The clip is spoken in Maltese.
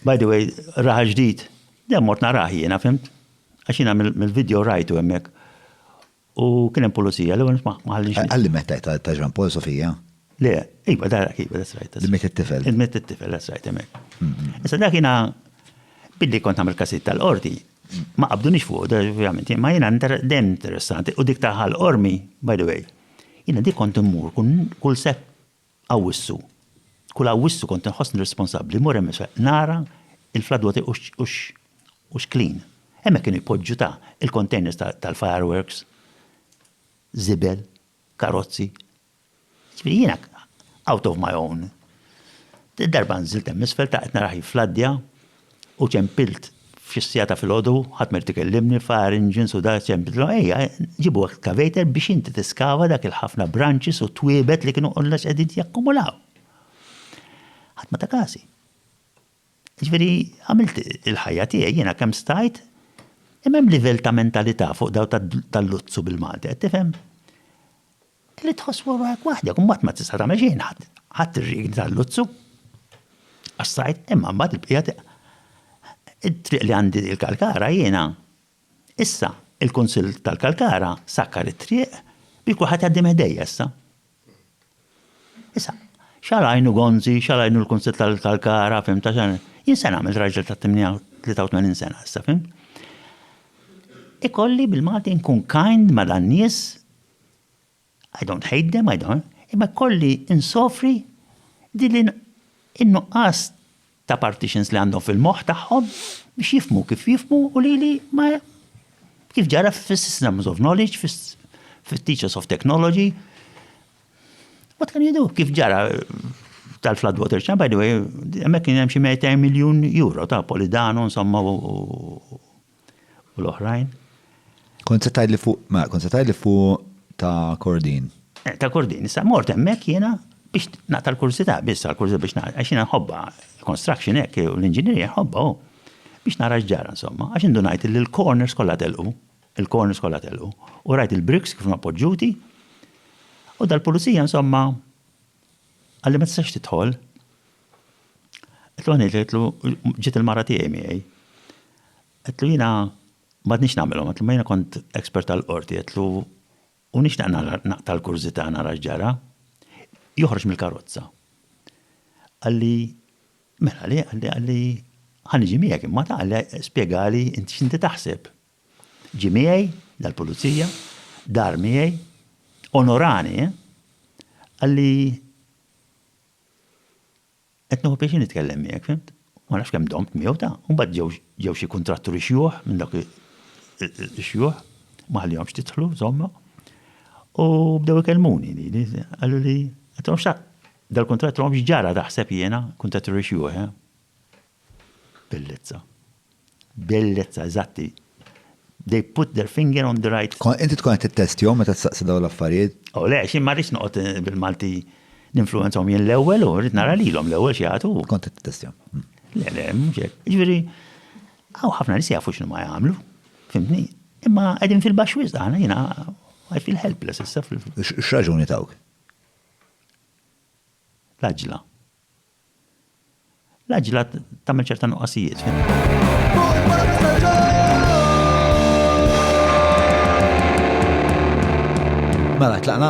By the way, raħa ġdid, dem mort naraħ jiena, fimt? Għax jiena mill-video rajtu hemmhekk. U kien hemm pulizija, l-ewwel ma ħallix. Għalli meta ta' Jean Paul Sofija? Le, iva dara kiva, that's right. Mit it-tifel. Mit it-tifel, that's right, hemmhekk. Issa dak jiena billi kont nagħmel kasit tal-qorti, ma qabdunix fuq, ovvjament, ma jiena dem interessanti u dik ta' ħal ormi, by the way. Jiena dik kont immur kull sep Awwissu. Kull Awwissu kont inħossni responsabbli mmur hemmhekk biex nara l-floodwater u x'clean. Hemmhekk kienu jpoġġu ta' il-containers tal-fireworks, żibel, karozzi. Ġifieri jiena out of my own. Darba nżilt hemm isfel ta' qed narah jiffladdja U ċempilt f'xi siegħa ta' filgħodu, ħadd ma jrid ikellimni, fire engines u dak, ċempiltilhom, ejja, ġibu excavator biex inti tiskava dak il-ħafna branches u twiebet li kienu kollha qegħdin jakkumulaw. Ħadd ma ta' każi. Ġifieri, għamilt il-ħajja tiegħi jiena kemm stajt, imma hemm livell ta' mentalità fuq daw tal-luzzu bil-Malti, qed tifhem? Trid tħoss fuq ruħek waħdek u mbagħad ma tista' tagħmel xejn ħadd ħadd ir-riegni tal-luzzu. Għax sajt imma mbagħad il-bqija it-triq li għandi l-Kalkara jiena. Issa, il-Kunsill tal-Kalkara sakkar it-triq biex kulħadd jgħaddi minn ħdejja issa. Issa, xalajnu Gonzi, xalajnu l-Kunsill tal-Kalkara, fim ta' xan. Jien se nagħmel raġel ta' 83 sena issa, fim? Ikolli bil-Malti nkun kind ma' dan nies I don't hate them, I don't, imma kolli insofri din in-nuqqas ta' partitions li għandhom fil-moħħ tagħhom biex jifmu kif jifmu u li li ma kif ġara fis-systems of knowledge, fis-teachers of technology. What can you do? Kif ġara tal-flood water ċan, by the way, emmek kien hemm xi 200 miljun euro ta' Polidano, insomma, u l-oħrajn. Kont se tgħidli fuq, ma kont se tgħidli fuq ta' Kordin. Eh, ta' Kordin, issa mort hemmhekk jiena biex naqta' l-kursità biss l-kursità biex naqta' għax jiena nħobba construction hekk u l-inġinierija nħobba oh, biex nara x'ġara insomma, għax indunajt li l-corners kollha telqu, il-corners kollha telqu u rajt il-bricks kif ma poġġuti u dal-pulizija insomma għalli ma tistax tidħol Għetlu għanejt, għetlu ġiet il-mara tiegħi miegħi. Għetlu jina madnix namilom, għetlu ma jina kont ekspert tal-qorti, għetlu u nix naqta l-kurzita nara ġara, joħroġ mill-karozza. Għalli, mela li, għalli, għalli, ħanġi miegħek, imma ta' għalli spiegali inti xinti taħseb. Ġi miegħi, dal-pulizija, dar miegħi, onorani, eh? għalli Qed nieħu pjaċir nitkellem miegħek, fimt? U ma nafx kemm domt miegħu ta'. U mbagħad ġew ġew xi kuntratturi xjuħ minn dak ix-xjuħ, ma ħallihomx tidħlu, żomma. U bdew ikellmuni li qalu li dal-kuntratt ġara taħseb jiena kuntratturi xjuħ, eh? Bellezza. Bellezza, eżatti. They put their finger on the right. Inti tkun qed tittestjhom meta tistaqsi dawn l-affarijiet? Oh le, xi ma rridx noqgħod eh, bil-Malti ninfluenzhom jien l-ewwel u rrid nara lilhom l-ewwel xi jagħtu. Kont qed tittestjhom. Hmm. Le, le, mhux hekk. Jiġifieri, hawn ħafna nies jafu x'nu ma jagħmlu. Fimtni? Imma qegħdin fil-baxx wisq aħna jiena I feel helpless issa fil X'raġuni tawk? L-aġla. L-għaġla tagħmel ċerta nuqqasijiet. Mela, tlaqna?